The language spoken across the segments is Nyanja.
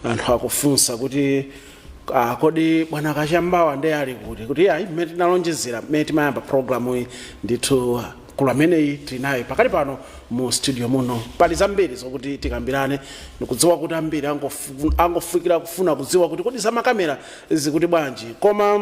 anthu akufunsa kuti ah, kodi bwana kachamba wa nde ali kuti kuti ayi mmene tinalonjezera mmene timayamba programu iyi ndithu mkulu ameneyi tili naye pakali pano mu studio muno pali zambiri zokuti tikambirane ndikudziwa kuti ambiri angofu- angofikira kufuna kudziwa kuti kodi zamakamera zikuti bwanji koma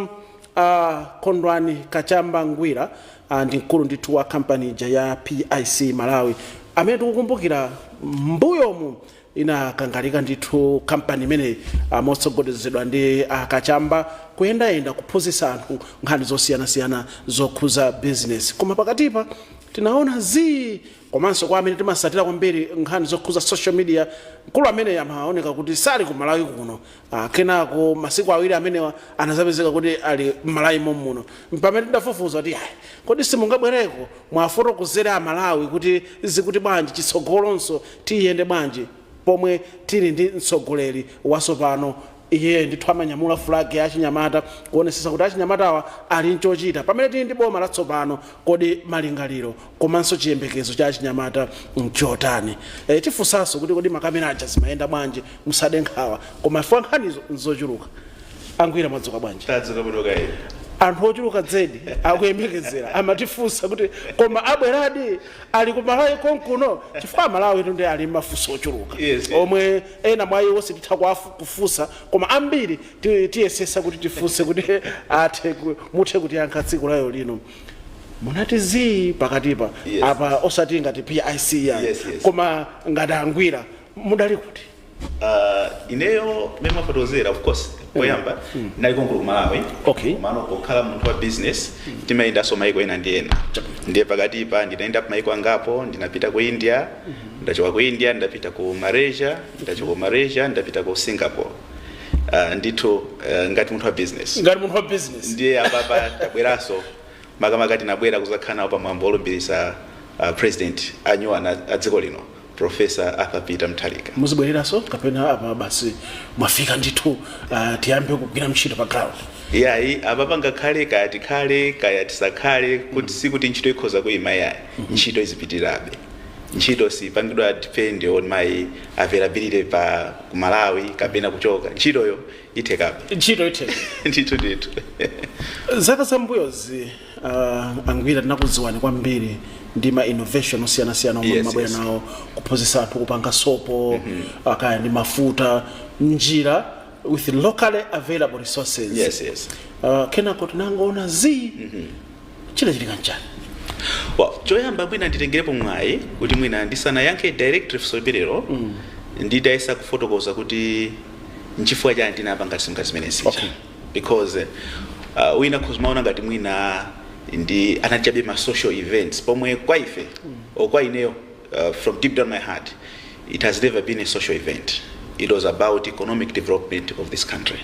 uh, kondwani kachamba ngwira uh, ndi mkulu ndithu wa kampani ija ya pic malawi amene tikukumbukira mbuyomu Inakangalika ndithu kampani imeneyi motsogolezedwa ndi a Kachamba kuyendayenda kuphunzitsa anthu nkhani zosiyanasiyana zokhuza bizinesi. Koma pakatipa tinaona zii komanso kwa amene timasatira kwambiri nkhani zokhuza social media mkulu ameneyu amaoneka kuti sali ku Malawi kuno Ah, kenako masiku awiri amenewa anazapezeka kuti ali m'malawi momuno mpamene tidafufuza kuti ayi kodi simungabwereko muwafotokozere amalawi kuti zikuti bwanji chitsogolonso tiyende bwanji pomwe tili ndi mtsogoleri wasopano iye ndithu amanyamula flag ya achinyamata kuonesesa kuti achinyamatawa ali nchochita pamene tili ndi boma latsopano kodi malingaliro komanso chiyembekezo cha achinyamata nchotani e, tifunsanso kuti kodi makamera aja zimayenda bwanji musade nkhawa koma ifika nkhanizo nzochuluka angwira mwadzuka bwanji tadzuka bwino kaye anthu ochuluka zedi akuyembekezera amatifunsa kuti koma abweradi ali ku malawi konkuno chifukwa amalawitu nde ali mafunso ochuluka Yes. omwe ena mwa iwo sititha kuwafu- kufunsa koma ambiri ti- tiyesesa kuti tifunse kuti athe ku- muthe kutiyankha tsiku lalero lino munati zii pakatipa Yes. apa osati ngati pic ya Yes, yes. koma ngati angwira mudali kuti Ah, ineyo mmene mwafotokozera of course poyamba ndinali konkuno ku malawi Okay. komano pokhala munthu wa business timayendanso maiko ena ndi ena ndiye pakatipa ndinayenda pa maiko angapo ndinapita ku india ndidachoka ku india ndidapita ku malaysia ndidachoka ku malaysia ndidapita ku singapore Ah, ndithu eh, ngati munthu wa business ngati munthu wa business ndiye apapa tabweranso makamaka tinabwera kuzakhala nawo pamwambo olumbiritsa ah, president anyuwana a dziko lino professor arthur peter mutharika muzibwereranso kapena apa basi mwafika ndithu ah, tiyambe kugwira ntchito pa ground yayi apapa ngakhale kaya tikhale kaya tisakhale kuti sikuti ntchito ikhoza kuyima yayi ntchito izipitirabe ntchito sipangidwa depend on my availability pa ku malawi kapena kuchoka ntchitoyo ithekabe ntchito itheka ndithu ndithu zaka zambuyozi uh, angwira tinakudziwani kwambiri ndi ma innovation osiyanasiyana omwe Yes, mumabwera yes. nawo kuphunzitsa anthu kupanga sopo uh, kaya ndi mafuta njira with locally available resources yes yes uh, kenako tinangoona zii chinachitika nchani well choyamba mwina nditengerepo mwayi kuti mwina ndisanayankhe directly funso limenelo mm. nditayesa kufotokoza kuti nchifukwa chani ndinapanga ngati zimene zija Okay. because uh, wina akhoza kumaona ngati mwina ndi anali chabe ma social events pomwe kwa ife mm. or kwa ineyo Uh, from deep down my heart, it has never been a social event. It was about economic development of this country.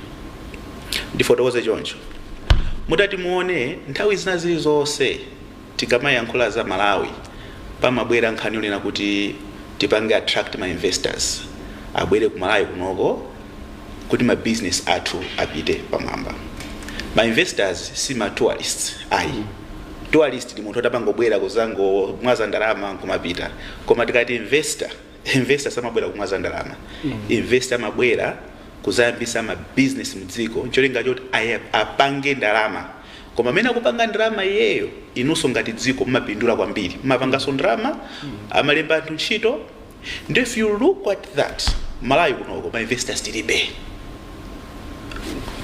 ndifotokoze choncho mutati muone nthawi zina zilizonse tikamayankhula za malawi pamabwera nkhani yonena kuti tipange attract ma investors abwere ku malawi kunoko kuti ma business athu apite pamwamba. Ma investors si ma tourists ayi. Tourist ndi munthu oti amangobwera kuzangomwaza ndalama nkumapita. Koma tikati investor, investor samabwera kumwaza ndalama. Investor amabwera kuzayambisa ma business mu dziko ncholinga choti apange ndalama. Koma pamene akupanga ndalama iyeyo, inunso ngati dziko mumapindula kwambiri. Mumapanganso ndalama, amalemba anthu ntchito. nde if you look at that malawi kunoko ma investors tilibe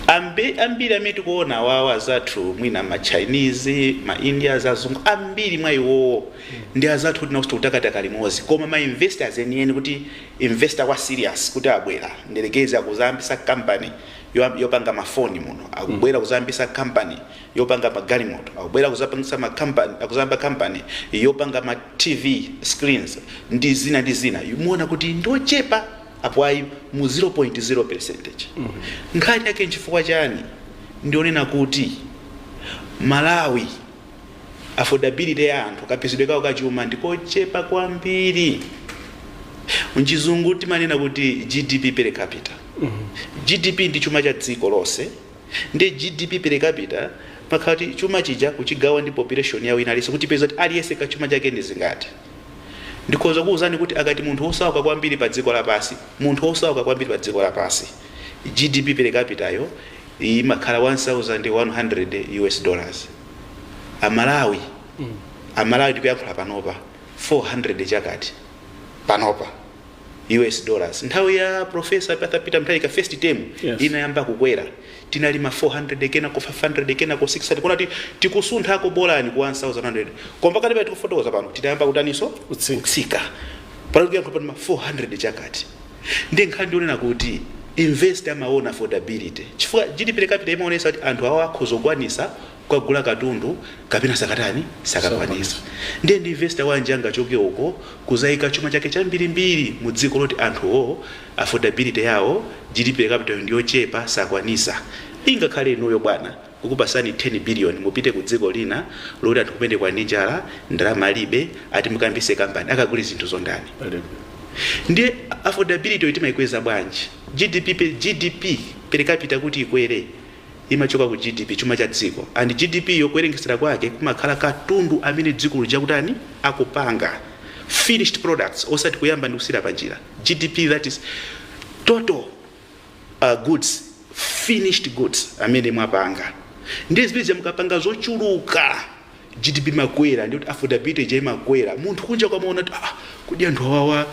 Ambi- ambiri amene tikuona awawa azathu mwina ma chinese ma indians azungu ambiri mwa iwowo ndi azathu kuti nawoso akutakataka limodzi koma ma investors enieni kuti investor wa serious kuti abwera ndiyerekeze akuzayambisa company yo- yopanga mafoni muno akubwera kuzayambisa company yopanga magalimoto akubwera kuzapangisa ma company akuzayamba company yopanga ma tv screens ndi zina ndi zina muona kuti ndochepa apo ayi mu 0.0 percentage nkhani yake nchifukwa chani ndi yonena kuti malawi affordability ya anthu kapezedwe kawo kachuma ndikochepa kwambiri mchizungu timanena kuti gdp per capita gdp ndi chuma cha dziko lonse Ndiye GDP per capita imakhala kuti chuma chija kuchigawa ndi population ya wina aliyense kuti tipeze kuti aliyense ka chuma chake ndi zingati. Ndikhoza kukuuzani kuti akati munthu wosauka kwambiri pa dziko lapansi, munthu wosauka kwambiri pa dziko lapansi, GDP per capita yo imakhala 1100 US dollars. A Malawi, a Malawi tikuyankhula panopa 400 chakuti panopa. us dollars nthawi ya profesa arthur peter mutharika first term Yes. inayamba kukwera tinali ma 400 kenako 500 kenako 600 kuona ti- tikusunthako bolani ku 1100 koma pakatipa tikufotokoza pano tinayamba kutaniso Kutsika. kutsika panakuya pa ma 400 chakuti ndi nkhani ndi yonena kuti investor amaona affordability chifukwa gdp per capita imaonesa kuti anthu awo akhoza kukwanisa kukagula katundu kapena sakatani sakwanisa ndiye ndi investor wanji angachoke uko kuzaika chuma chake chambirimbiri mu dziko loti anthu wo affordability yawo GDP per capita yo ndiyochepa sakwanisa ingakhale inuyo bwana kukupasani 10 billion mupite ku dziko lina loti anthu kumeneko ndi njala ndalama alibe ati mukambise company akagule zinthu zo ndani Palibe. ndiye affordability yo timaikweza bwanji GDP per, GDP per capita kuti ikwere imachoka ku GDP, chuma cha dziko, and GDP yo kuwerengetsera kwake kumakhala katundu amene dziko lija akutani, akupanga, finished products, osati kuyamba ndi kusiyira panjira, GDP that is total uh, goods, finished goods amene mwapanga. Ndiye zimene zija mukapanga zochuluka, GDP imakwera, ndikuti affordability ija imakwera. Munthu kunjako amaona kuti ah, kodi anthu awawa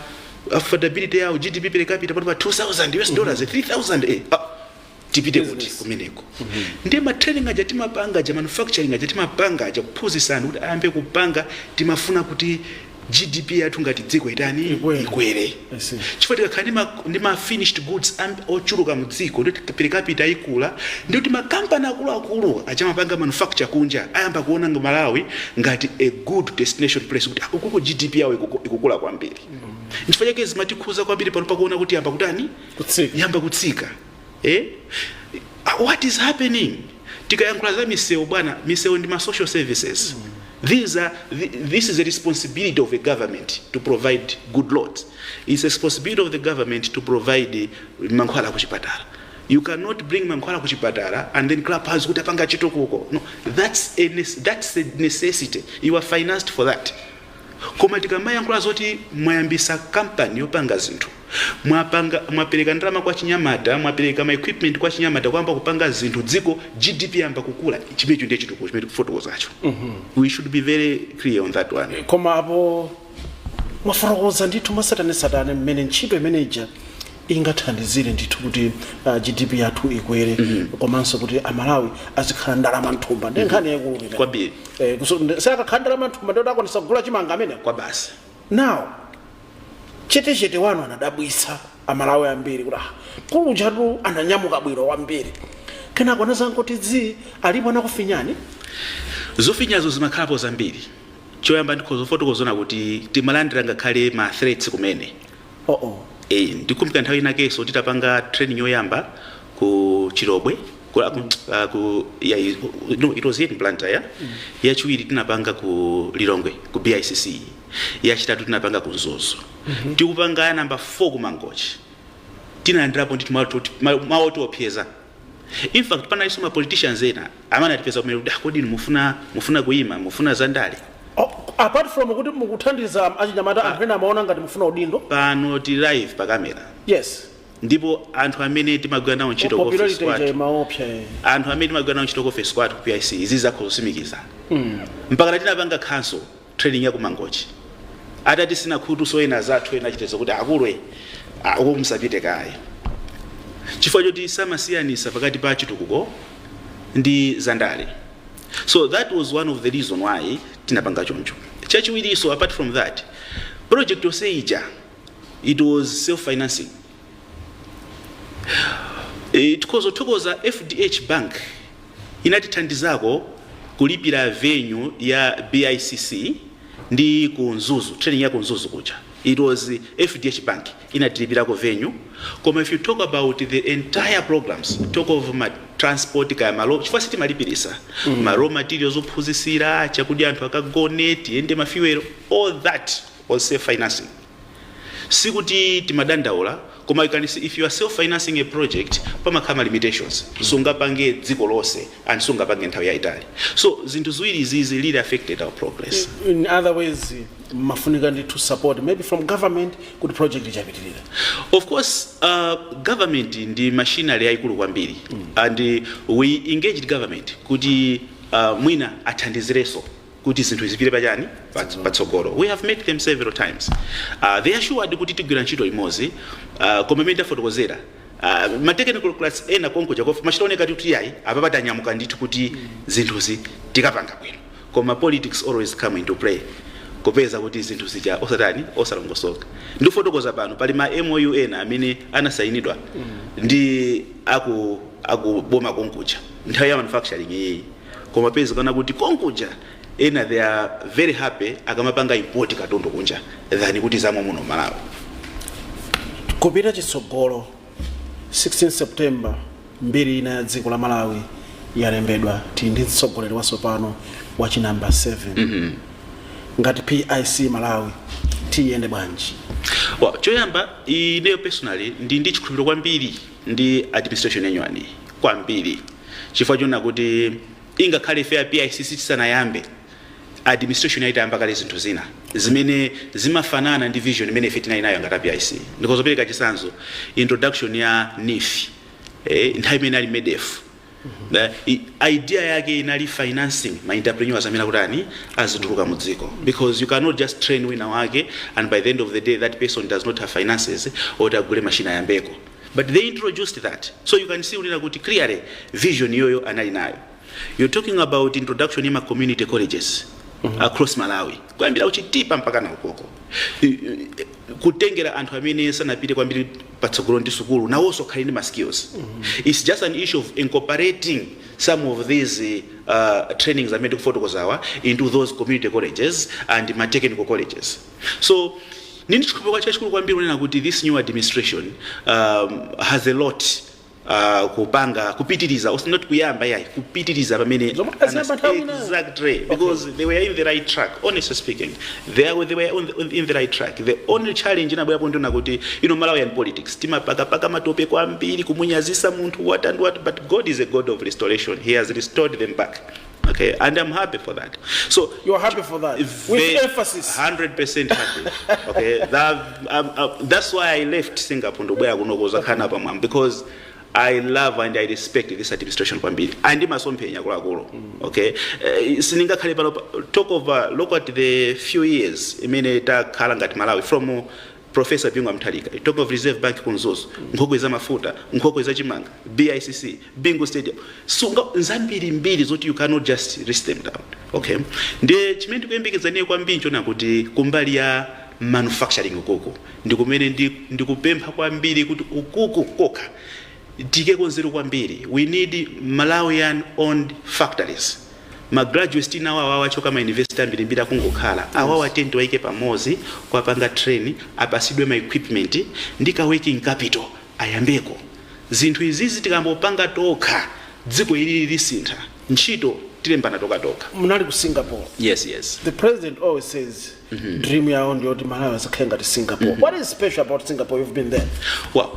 affordability yawo GDP per capita pano ili pa 2000 US dollars, 3000 eh, ah, tipite kuti kumeneko ndi ma training aja timapanga aja manufacturing aja timapanga aja kuphunzitsa anthu kuti ayambe kupanga timafuna kuti gdp yathu ngati dziko itani Ikwere. ikwere I see. chifukwa tikakhala ndi ma- ndi ma finished goods am- ochuluka mu dziko ndiye per capita ikula ndiye kuti makampani akuluakulu aja amapanga manufacture kunja ayamba kuona nga malawi ngati a good destination place kuti akutiko gdp yawo ikuku- ikukula kwambiri nchifukwa chake zimatikhuza kwambiri pano pakuona kuti ayamba kutani kutsika yamba kutsika eh? Ah, what is happening tikayankhula za misewu bwana misewu ndi ma social services These are, thi- this is a responsibility of a government to provide good roads it's a responsibility of the government to provide eh, mankhwala kuchipatala you cannot bring mankhwala kuchipatala and then clap hands kuti apanga chitukuko no that's a, nes- that's a necessity you are financed for that Koma tikamayankhula zoti mwayambisa company yopanga zinthu, mwapanga, mwapeleka ndalama kwa achinyamata, mwapeleka ma equipment kwa achinyamata ayamba kupanga zinthu dziko GDP yayamba kukula, chimenecho ndiye chitukuko chimene tikufotokozacho. We should be very clear on that one. koma apo mwafotokoza ndithu mwasatanesatane mmene ntchito imene ija ingathandizire ndithu kuti ah, GDP yathu ikwere komanso kuti amalawi azikhala ndi ndalama mthumba ndi nkhani yaikulu imene. Kwambiri. Eh, kuso- ndi- akakhala ndi ndalama mthumba ndiye kuti akwanisa kugula chimanga amene kwa basi nawo chetechete wanu anadabwitsa amalawi ambiri kuti ah, mkulu ujatu ananyamuka bwino kwambiri kenako anazangoti zii alipo anakufinyani zofinyazo zimakhalapo zambiri choyamba ndikhoza kufotokoza kuti timalandira ngakhale ma threats kumene Oh, oh. Eh, ndikukumbuka nthawi inakenso titapanga training yoyamba ku Chilobwe ku, ku, uh, ku ya, no, it was here in Blantyre yeah? mm. yachiwiri tinapanga ku Lilongwe ku BICC yachitatu tinapanga ku Mzuzu mm -hmm. tikapanga ya namba 4 ku Mangochi tinalandirapo ndithu mawu oti opseza In fact panalinso ma politicians ena amene anatipeza kumene kuti "Ah, kodi inu mufuna mufuna kuima mufuna za ndale Oh, apart from kuti mukuthandiza achinyamata anthu ena amaona ngati mufuna udindo pano tili live pa kamera yes ndipo anthu amene timagwira nawo ntchito ku office popularity kwathu ija imaopsa eh. anthu amene timagwira nawo ntchito ku office kwathu ku pic izi zakho zotsimikiza mpaka tinapanga khanso trading ya ku mangochi atatisina khutu so ena azathu ena achitenso kuti akulwe ah, uko musapite kaye chifukwa choti samasiyanisa pakati pa chitukuko ndi zandale so that was one of the reason why tinapanga choncho chachiwiriso apart from that project yonse ija it was self financing E, tikhoza kuthokoza FDH Bank inatithandizako kulipira venue ya BICC ndi ku Mzuzu, training ya ku Mzuzu kuja. It was FDH Bank inatilipirako venue. Koma if you talk about the entire programs, talk of ma transport kaya malo, chifukwa sitimalipirisa ma raw materials ophunzisira, chakudya anthu akagone, tiyende ma fuel, all that was self financing. sikuti timadandaula koma you can see if you are self financing a project pamakhala ma limitations sungapange dziko lonse and sungapange nthawi yaitali so zinthu ziwiri izizi really affected our progress in other ways mumafunika ndithu support maybe from government kuti project ija ipitirire of course uh, government ndi machinery yaikulu kwambiri and we engaged government kuti uh, mwina athandizireso kuti zinthu zipite pachani Pats- patsogolo we have met them several times uh, they assured kuti tigwira ntchito limodzi uh, koma mmene tafotokozera uh, ma technical guys ena konkuja kof- zimachita kuoneka kuti yayi apapa tanyamuka ndithu kuti zinthuzi tikapanga bwino koma politics always come into play kupeza kuti zinthu zija osatani osalongosoka ndikufotokoza pano pali ma mou ena amene anasayinidwa ndi aku akuboma konkuja nthawi ya manufacturing iyeyi koma mupezeka kuti konkuja ena they are very happy akamapanga import katundu kunja than kuti za mommuno malawi kupita chitsogolo 16 september mbiri ina ya dziko la malawi yalembedwa tili ndi mtsogoleri watsopano wa chinamba 7 mm -hmm. ngati pic malawi tiyende bwanji well, choyamba ineyo personally ndi ndi chikhulupiriro kwambiri ndi administration yanyuwaniyi kwambiri chifukwa chonena kuti ingakhale ife a pic isanayambe administration iyi itayamba kale zinthu zina zimene zimafanana ndi vision imene ife tinali nayo ngati a pic ndikhoza kupereka chitsanzo introduction ya neef eh, nthawi imene ili medef The idea yake inali financing ma entrepreneurs amene akutani azituluka mu dziko because you cannot just train wina wake and by the end of the day that person does not have finances oti agule machine ayambeko but they introduced that so you can see kunena kuti clearly vision yoyo anali nayo you're talking about introduction ya ma community colleges across malawi kuyambira kuchitipa mpaka kuti ukoko I- i- kutengera anthu amene sanapite kwambiri patsogolo ndi sukulu nawonso akhale ndi ma skills its just an issue of incorporating some of these uh, trainings amene ndikufotokozawa into those community colleges and ma technical colleges so ndili ndi chikhulupiriro chachikulu kwambiri kunena kuti this new administration um, has a lot uh, kupanga kupitiriza os- not kuyamba yayi kupitiriza pamene Zomwe aziyamba anas- nthawi ina. exactly because they were in the right track honestly speaking they, are, they were on the, on- in the right track the only challenge inabwerapo ndi yonena kuti you know malawian politics timapakapaka matope kwambiri kumunyazitsa munthu what and what but god is a god of restoration he has restored them back Okay, and I'm happy for that. So You are happy for that. With Ve- emphasis. 100% happy. Okay, that, um, uh, that's why I left Singapore to where kunokoza khana pa mwam because I love and I respect this administration kwambiri. Andi masomphenya akuluakulu. Okay. Uh, siningakhale pano pa- talk of uh, look at the few years imene takhala ngati Malawi from uh, Prof Bingu wa Mutharika, you talk of Reserve Bank ku Mzuzu, nkhokwe za mafuta, nkhokwe za chimanga, BICC, Bingu Stadium, uh, nzambirimbiri zoti you cannot just list them down. Okay. Ndiye chimene ndikuyembekeza ineyo kwambiri nchonena kuti kumbali ya manufacturing ukuku ndikumene ndi, ndikupempha kwambiri kuti ukuku kokha Tiikeko nzeru kwambiri we need Malawian owned factories. Ma graduates tili nawo awawa achoka ma university ambirimbiri akungokhala awawa tiyeni tiwaike pamodzi kuwapanga train apatsidwe ma equipment ndi ka working capital ayambeko zinthu izizi tikangopanga tokha dziko ilili lisintha ntchito tilembana tokhatokha. Munali ku Singapore. Yes yes. The president always says. dream yawo ndiyoti malawi asakhale ngati singapore what is special about singapore you've been there well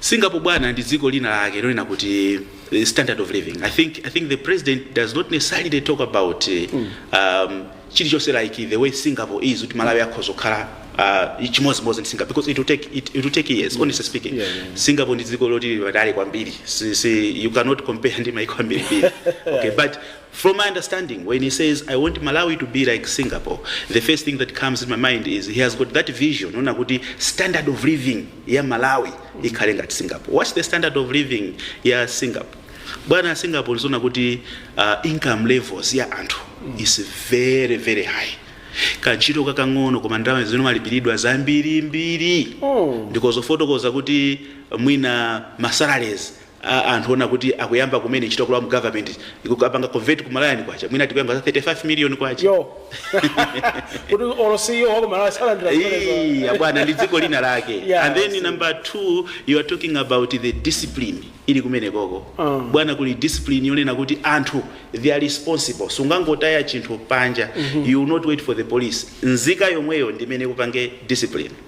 singapore bwana ndi dziko lina lake lonena kuti eh, standard of living i think, I think the president does not necessarily talk about eh, um, chilichonse like the way singapore is kuti malawi akhoza kukhala uh, chimodzimodzi ndi singapore because it will take, it, it will take years honestly speaking Yeah, yeah, yeah. singapore ndi dziko loti lili patali kwambiri si, si, you cannot compare ndi maiko ambirimbiri okay but From my understanding when he says I want Malawi to be like Singapore the first thing that comes in my mind is he has got that vision yonena kuti standard of living ya Malawi ikhale ngati Singapore. What's the standard of living ya Singapore? Bwana Singapore ndi zonena kuti uh, income levels ya anthu is very very high kantchito kakang'ono koma ndalama zimene amalipiridwa zambirimbiri ndikhoza kufotokoza kuti mwina masalaries a anthu onena kuti akuyamba kumene ntchito kulowa mu government ukawapanga convert ku Malawian kwacha mwina tikuyankhula za 35 million kwacha yoti olo CEO wa ku Malawi salandira Ee, zimenezo abwana ndi dziko lina lake Yeah, and then see. number two you are talking about the discipline ili kumeneko Ah. bwana kuli discipline yonena kuti anthu they are responsible sungangotaya chinthu panja you will not wait for the police nzika yomweyo ndi imene ikupange discipline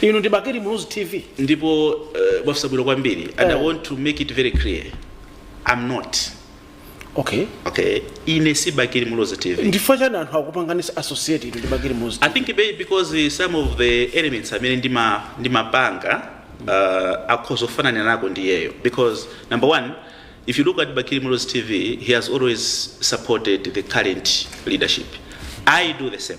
inu ndi bakili muluzi tv ndipo uh, mwafunsa bwino kwambiri and i Eh. want to make it very clear i'm not okay okay ine si bakili muluzi tv ndi chifukwa chani anthu akupanganisa associate inu ndi bakili muluzi i think maybe because uh, some of the elements amene ndima- ndimapanga uh, akhoza kufananako ndi iyeyo because number one if you look at bakili muluzi tv he has always supported the current leadership i do the same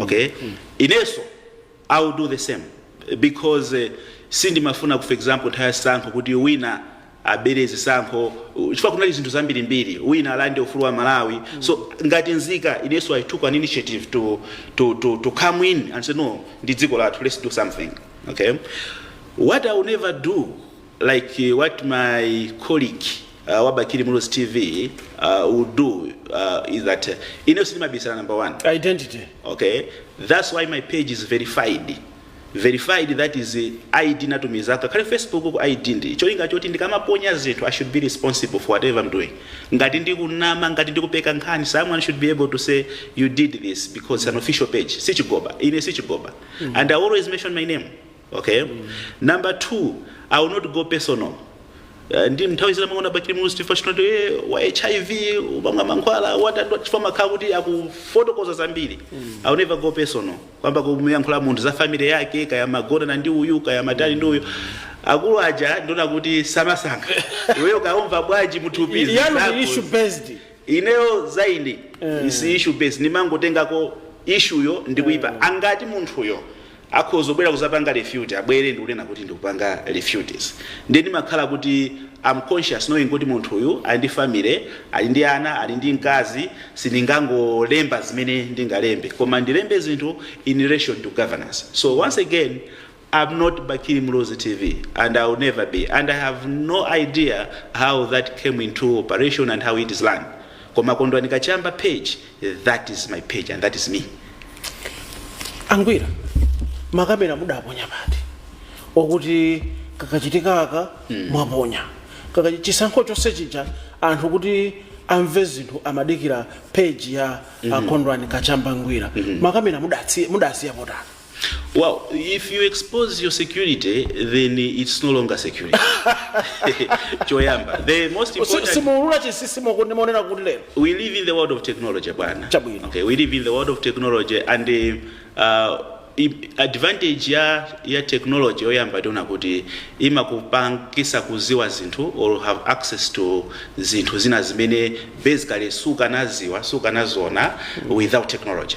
okay inenso i will do the same because eh, sindimafuna for example nthawi ya zisankho kuti wina abere zisankho uh, chifukwa kunali zinthu zambirimbiri wina alande ufulu wa malawi so ngati mzika inenso i took an initiative to, to, to, to come in and say no ndi dziko lathu let's do something okay what i will never do like what my colleague uh, wa Bakili Muluzi TV uh, would do uh, is that uh, ine sindimabisala number one identity okay that's why my page is verified verified that is uh, id ndinatumizako akakhale facebook ku id ndi cholinga choti ndikamaponya zinthu i should be responsible for whatever i'm doing ngati ndikunama ngati ndikupeka nkhani someone should be able to say you did this because it's an official page sichigoba ine sichigoba and i always mention my name ok number 2 i will not go personal Eh, ndi nthawi zina mwaona bakili muluzi tv chinoto eh, wa hiv amamwa mankhwala watandwa chifukwa makhala kuti akufotokoza zambiri i will never go personal kuyamba kumuyankhula munthu za family yake kaya amagonana ndi uyu kaya amatani ndi uyu akulu aja ndiona kuti samasankha iweyo ukumva bwanji mthupi zako ndi issue based ineyo mine is issue based ndimangotengako ishuyo ndikuipanga kuti munthuyo Akhoza kubwera kuzapanga refute abwere ndikunena kuti ndikupanga refutes ndiye ndimakhala kuti am conscious knowing kuti munthu uyu ali ndi family ali ndi ana ali ndi mkazi sindingangolemba zimene ndingalembe koma ndilembe zinthu in relation to governance so once again am not Bakili Muluzi TV and I will never be and I have no idea how that came into operation and how it is run koma Kondwani Kachamba page That is my page and that is me. angwira makamera mudaponya pati oti kakachitika ka mwaponya Kakachi- chisankho chonse chija anthu kuti amve zinthu amadikira peji ya a Kondwani Kachamba Ngwira makamera mudatsi- mudasiya pati Well, if you expose your security, then it's no longer security. Choyamba. The most Si- important simuulula chinsinsi moku- monena kuti lero we live in the world of technology bwana Chabwino. okay we live in the world of technology and uh, uh, i- advantage ya ya technology yoyamba timaona kuti imakupangisa kuziwa zinthu or have access to zinthu zina zimene basically sukanaziwa sukanaziona without technology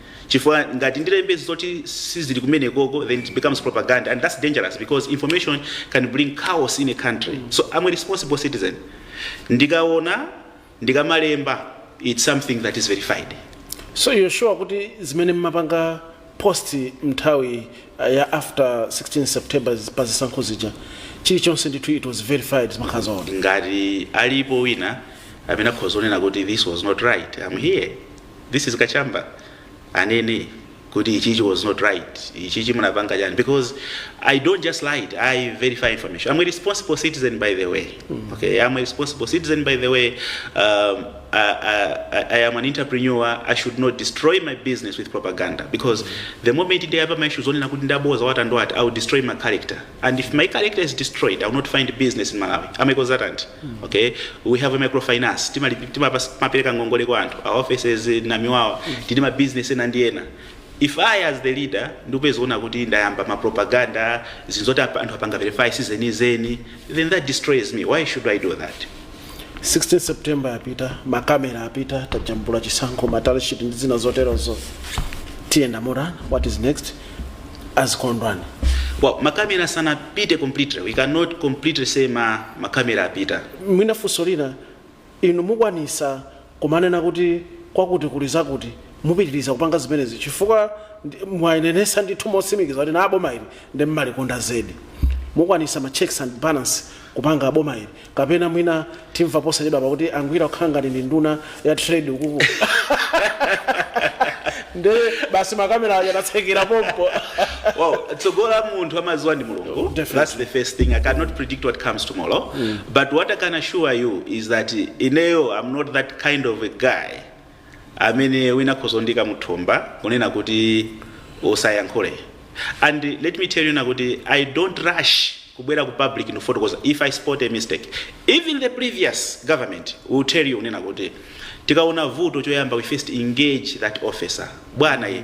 chifukwa ngati ndilembe zoti sizili kumenekoko then it becomes propaganda and that's dangerous because information can bring chaos in a country so am a responsible citizen ndikaona ndikamalemba it's something that is verified so you're sure kuti zimene mmapanga post mnthawi uh, ya after 16 september pa zisankho zija chilichonse ndithu it was verified zimakhala zoona ngati alipo wina amene akhoza kunena kuti this was not right am here this is kachamba anene kuti ichichi was not right ichichi munapanga chani because i don't just lie it, i verify information i'm a responsible citizen by the way okay i'm a responsible citizen by the way um, I, I, I am an entrepreneur i should not destroy my business with propaganda because the moment ndiyapa ma issues onena kuti ndaboza watandwati i will destroy my character and if my character is destroyed i will not find business in malawi am a consultant okay we have a microfinance Timali- timapasa- timapereka ngongole kwa anthu our offices in namiwawa tili ma business ena ndi ena if i as the leader ndikupezeka kuti ndayamba ma propaganda zinthu zoti apa- anthu apanga verify sizenizeni then that destroys me why should i do that 16 september yapita makamera apita tajambula chisankho ma tally sheet ndi zina zoterozo tiyenda motani what is next azikondwani well makamera sanapite completely we cannot completely say ma makamera apita mwina funso lina inu mukwanisa kumanena kuti kwakuti kuli zakuti mupitiriza kupanga zimenezi chifukwa mwanenesa ndithu motsimikiza kunena boma ili ndi mmalikonda zedi mukwanisa ma checks and balances kupanga boma ili Kapena mwina timva posachedwapa kuti a Ngwira kukhala ngati ndi nduna ya trade ukuku. Nde basi makamera aja adatsekera pompo. Well, tsogolo la munthu amaziwa ndi mulungu Definitely. that's the first thing i cannot predict what comes tomorrow but what i can assure you is that ineyo i'm not that kind of a guy amene wina akhoza kundiika mthumba kunena kuti usayankhule and let me tell you kunena kuti i don't rush kubwera ku public ndikufotokoza if i spot a mistake even the previous government will tell you kunena kuti tikaona vuto choyamba we first engage that officer bwana ye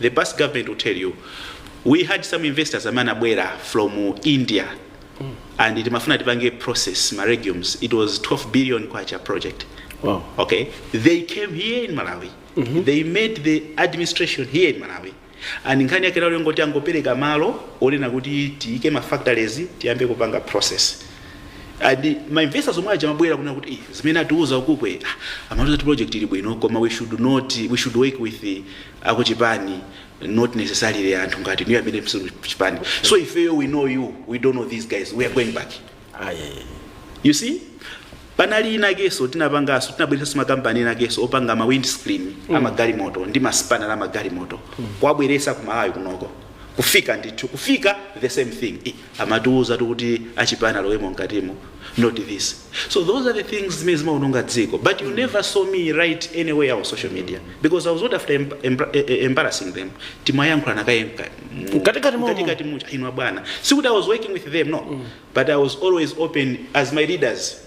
The past government will tell you we had some investors amene anabwera from India and timafuna tipange process ma legumes it was 12 billion kwacha project Wow. okay they came here in malawi they made the administration here in malawi and nkhani yake lero ngoti angopereka malo onena kuti tiyike ma factories tiyambe kupanga process and ma investors omwe aja anabwera kunena kuti "Eh, zimene atiuza ukuku ah, amatiuza kuti project ili bwino koma we should not we should work with the akuchipani not necessarily anthu ngati inuyo amene simuli kuchipani so ifeyo we know you we don't know these guys we are going back you see panali inakeso tinapangaso tinabweresaso makampani inakeso opanga ma windscreen mm. amagalimoto ndi ma spanel amagalimoto mm. kuwabweresa ku malawi kunoko kufika ndithu kufika the same thing I- amatiuzatu kuti achipani alowemo mkatimo not this so those are the things zimene zimaononga dziko but you never saw me write anywhere on social media because i was not after emb emb eh, eh, embarrassing them timayankhulana kaye mka- mu- Mkatikati momo. mkatikati muja inwa bwana sikuti i was working with them no but i was always open as my leaders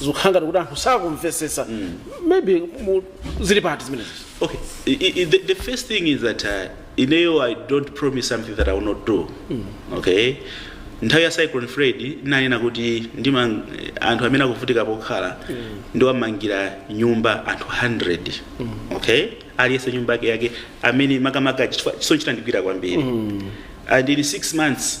zikukhala ngati kuti anthu sakumvetsetsa maybe mu- zili pati zimenezi Okay, I, I, the, the first thing is that uh, ineyo I don't promise something that I will not do. Okay? nthawi ya cyclone freddy ndinanena kuti anthu amene akuvutika pokhala ndiwamangira nyumba anthu 100 okay aliyense nyumba yake yake amene makamaka chifukwa- chisochita ndigwira kwambiri and in 6 months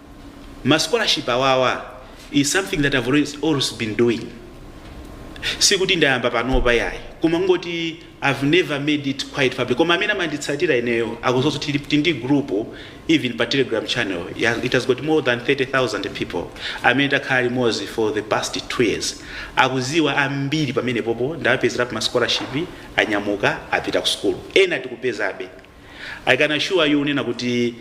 ma scholarship awawa is something that I've always been doing sikuti ndayamba panopa yayi koma kungoti I've never made it quite public koma amene amanditsatira ineyo akudziwa kuti ndili ndi group even pa telegram channel yeah, it has got more than 30000 people amene takhala limodzi for the past 2 years akuziwa ambiri pamenepopo ndawapezerapo ma scholarship anyamuka apita ku school ena tikupezabe i can assure you kunena kuti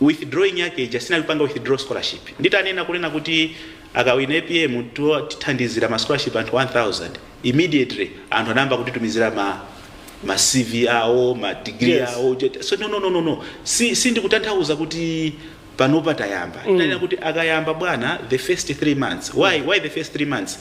withdrawing yake ija sinali kupanga withdraw scholarship nditanena kunena kuti akawina apm tiwa- tithandizira ma scholarship anthu 1000 immediately anthu anayamba kutitumizira ma ma cv awo ma degree Yes. awo jet- so no no no no no si sindikutanthauza kuti panopa tayamba ndinanena kuti akayamba bwana the first three months why why the first three months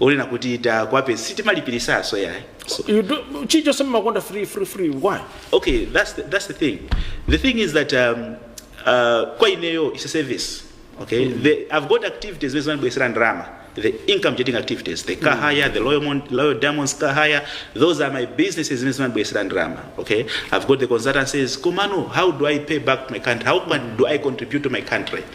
onena kuti takwape sitimalipiritsanso yayi So you do chicho semakonda free free free why? okay that's the, that's the thing the thing is that um, uh, kwa ineyo is a service okay the, i've got activities zimene zimandibwesera ndalama the income generating activities the car hire the loyal, Mon- loyal diamonds car hire those are my businesses zimene zimandibwesera ndalama okay i've got the consultancies komano how do i pay back to my country how can, do i contribute to my country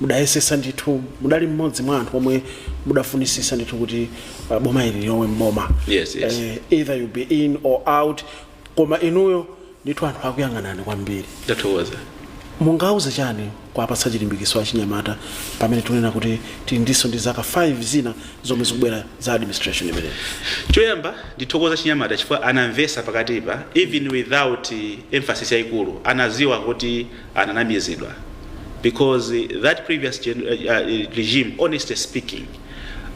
mudayesesa ndithu mudali mmodzi mwa anthu omwe mudafunisisa ndithu kuti uh, boma ili lilowe mboma Yes, yes. Eh, either you be in or out koma inuyo ndithu anthu akuyang'anani kwambiri ndathokoza mungauze chani kuapatsa chilimbikiso achinyamata pamene tikunena kuti tili ndiso ndi zaka 5 zina zomwe zikubwera za administration imeneyi choyamba ndithokoze achinyamata chifukwa anamvesa pakatipo even without eh, emphasis yayikulu anaziwa kuti ananamizidwa because that previous gen, uh, uh, regime honestly speaking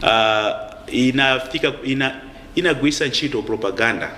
uh, inafika ina inagwirisa ntchito propaganda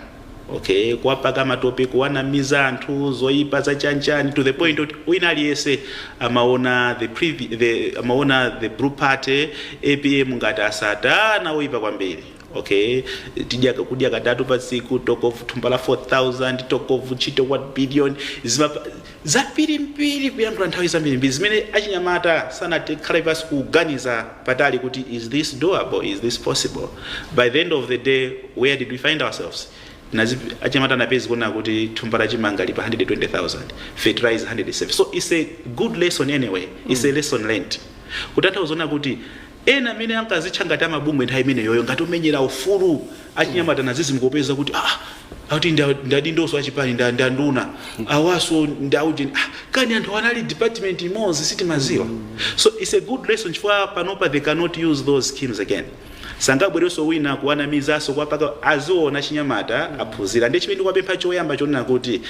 okay kuwapaka matope kuwanamizira anthu zoyipa za chanichani to the point oti wina aliyense amaona the, previ, the, amaona the blue party apm ngati asatana oyipa kwambiri Ok tizakudya katatu pa tsiku talk of thumba la 4000 talk of ntchito 1 billion zinthu zambirimbiri kuyankhula nthawi zambirimbiri zimene achinyamata sanakhale pansi kuganiza patali kuti is this doable is this possible by the end of the day where did we find ourselves Nazizimuka achinyamata anapezeka kuona kuti thumba la chimanga lili pa 120000 fertilizer 107 so it's a good lesson anyway it's a lesson learned kutanthauza kuti Ena amene ankazitcha ngati a mabungwe nthawi imeneyoyo ngati omenyera ufulu achinyamata nazizimuka kupeza kuti aah akuti ndi ndi adindoso achipani ndi ndi anduna awaso ndi aujeni ah kani anthu anali department imodzi sitimaziwa so it's a good lesson chifukwa panopa they cannot use those schemes again sangabwereso wina kuwanamizaso kwa paka aziona achinyamata aphunzira ndiye chimene ndikuwapempha choyamba chonena kuti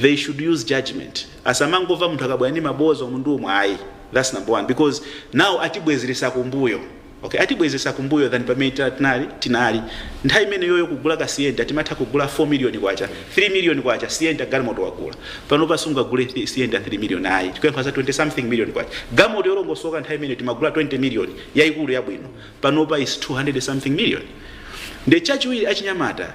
they should use judgement Asamangova munthu akabwera ndi maboza umu ndi umu ayi that's number one because now atibwezeretsa kumbuyo okay atibwezeretsa kumbuyo than pamene tinali tinali nthawi imeneyoyo kugula ka sienta timatha kugula 4 million kwacha 3 million kwacha sienta galimoto wagula panopa sungagule thi- sienta 3 million ayi tikuyankhula za 20 something million kwacha galimoto yolongosoka nthawi imeneyo timagula 20 million yaikulu yabwino panopa is 200 something million nde chachiwiri achinyamata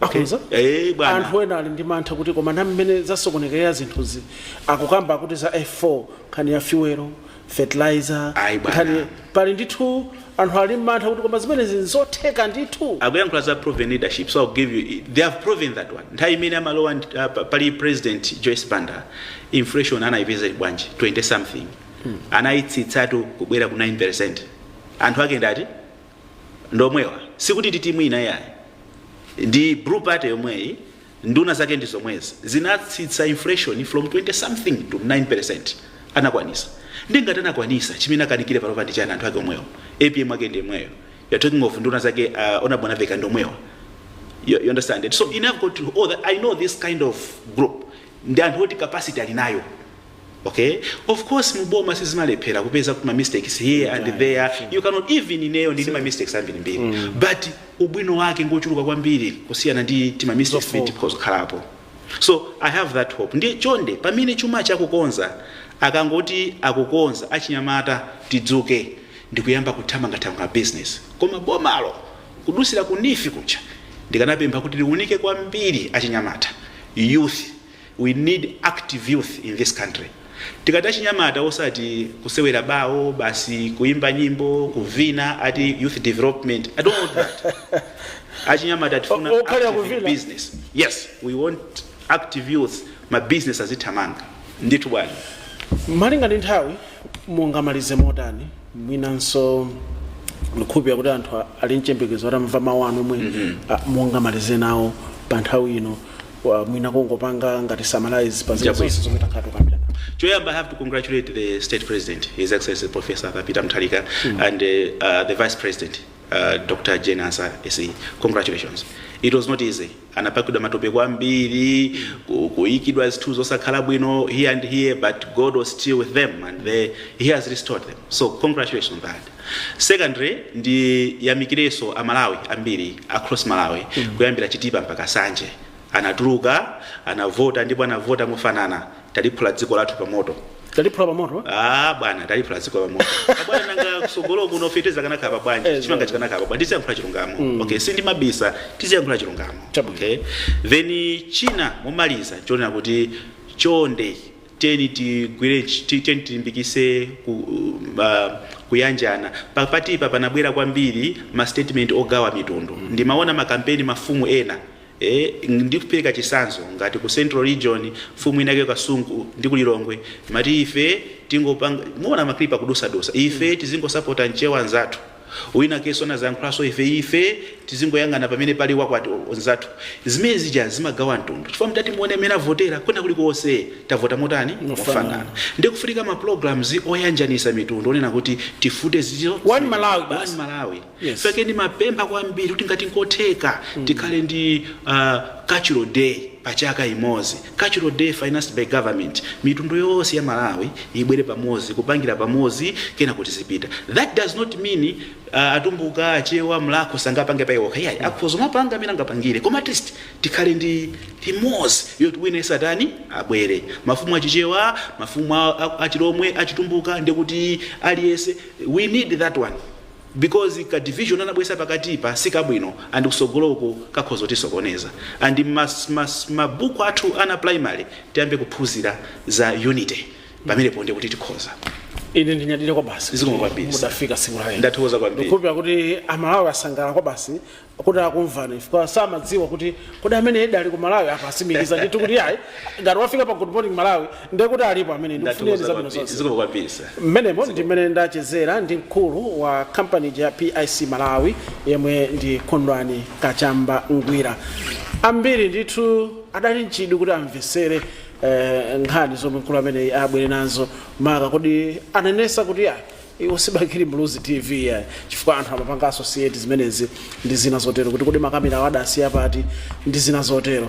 Akhonza? Eh, bwana. anthu ena ali ndi mantha kuti koma na mmene zasokonekerera zinthuzi akukamba kuti za f4 nkhani ya fuelo fertilizer Ayi, bwana. nkhani pali ndithu anthu ali ndi mantha kuti koma zimenezi nzotheka ndithu akuyankhula za proven leadership so I'll give you they have proven that one nthawi imene amalowa ndi- ah, pa- pali president joyce banda inflation anayipeza ili bwanji 20 something anayitsitsatu kubwera ku 9 percent anthu ake ndi ati ndomwewa sikuti ndi timu ina yayi ndi blue party yomweyi nduna zake ndi zomwezi zinatsitsa inflation from 20 something to 9% anakwanisa ndi ngati anakwanisa chimene akanikire panopa ndi chani anthu ake omwewo apm ake ndi yemweyo you are talking of nduna zake uh, a Mwanamvekha ndi omwewa you, you understand it so I have got to, oh, that, i know this kind of group ndi anthu oti capacity ali nayo Ok of course mu boma sizimalephera kupeza kuti ma mistakes here Sure, and there yeah, sure. you cannot even ineyo ndili ndi ma mistakes ambirimbiri but ubwino wake ngochuluka kwambiri kusiyana ndi tima mistakes Zofoka. timene tikhoza kukhalapo so i have that hope ndiye chonde pamene chuma akukonza akangoti akukonza achinyamata tidzuke ndikuyamba kuthamangathamanga business koma bomalo kudusira kunifi kucha ndikanapempha kuti liunike kwambiri achinyamata youth We need active youth in this country. Tikati achinyamata osati kusewera bawo basi kuimba nyimbo kuvina ati youth development. I don't want that. achinyamata tifuna o- okhala active kuvina. business. Yes, we want active youth ma business azithamanga. Ndithu bwana. malinga ndi nthawi mungamalize motani mwinanso ndikukhulupirira kuti anthu a- ali mchembekezo atamva mawu anu omwe a- mungamalize nawo pa nthawi ino Wa- mwina kungopanga ngati summarize pa zinthu Chabwino. zonse zomwe takhala tikukambirana Choyamba, I have to congratulate the State President, His Excellency Professor Peter Mutharika, and uh, uh, the Vice President, uh, Dr. Jane Ansah, SC. Congratulations. It was not easy. Anapakidwa matope kwambiri, ku- kuikidwa zinthu zosakhala bwino here and there, but God was still with them and they, He has restored them. So congratulations on that. Secondly ndiyamikirenso a Malawi ambiri across Malawi kuyambira Chitipa mpaka Nsanje anatuluka anavota ndipo anavota mofanana taliphula dziko lathu pa moto. Taliphula pa moto? Ah bwana taliphula dziko pa moto. Abwana nanga kusogolo kuno feteleza akanakhala bwanji Eh, chimanga chikanakhala bwanji tiziyankhula chilungamo. Okay sindimabisa tiziyankhula chilungamo. Chabwino. Okay. Then china momaliza chonena kuti chonde tiyeni tigwire tiyeni tilimbikise ku, uh, kuyanjana papatipa panabwera kwambiri ma statement ogawa mitundu mm. ndimaona makampeni mafumu ena Eh, ndikupereka chisanzo ngati ku central region mfumu inake kasungu ndi kulilongwe mati ife tangopanga mumaona ma clip a akudutsadutsa ife tizingosapota mchewa nzathu Winakenso anadzayankhulanso ife, ife tizingoyang'ana pamene pali wakwathu mzathu. Zimene zija zimagawa mtundu, chifukwa mtati muone mmene avotera, kwina kulikonse tavota motani? Mofanana. Ndiye kufunika ma programs oyanjanisa mitundu, onena kuti tifute zizo, One Malawi zimenezo, basi. one Malawi. Yes. Pake ndimapempha kwambiri kuti ngati nkotheka tikhale ndi ah, cultural day pachaka imodzi. Cultural day financed by government, mitundu yonse ya Malawi ibwere pamodzi, kupangira pamodzi kenako tizipita. That does not mean atumbuka, achewa, mlakho sangapange pa iwo okha iyayi, akhoza kumapanga amene angapangire koma at least tikhale ndi imodzi yoti wina yense atani abwere. Mafumu a Chichewa, mafumu a, a, a Chilomwe, a Chitumbuka ndikuti aliyense we need that one. because ka division anabwesa pakatipa sikabwino and kusogolo uku kakhoza kutisokoneza and ma ma ma book athu ana a primary tiyambe kuphunzira za unity pamenepo ndiye kuti tikhoza. ine ndinyadire kwabasi Zikomo kwambiri, sir. mudafika tsiku la lero Ndathokoza kwambiri. ndikukhulupira kuti amalawi asangalala kwabasi kuti akumvani chifukwa samadziwa kuti kodi ameneyudi ali ku malawi apa asimikiza ndithu kuti yayi ngati wafika pa good morning malawi ndiye kuti alipo amwene ndikufunireni zabwino zonse zikomo kwambiri sir mmenemo ndi mmene ndachezera ndi mkulu wa kampani ya pic malawi yemwe ndi kondwani kachamba ngwira ambiri ndithu adali nchidwi kuti amvesere eh, nkhani zomwe mkulu ameneyi abwere nazo maka kodi anenetsa kuti ayi Iwo si bakili muluzi tv iyayi chifukwa anthu amapanga associate zimenezi ndi zina zotero kuti kodi makamerawo adasiya pati ndi zina zotero.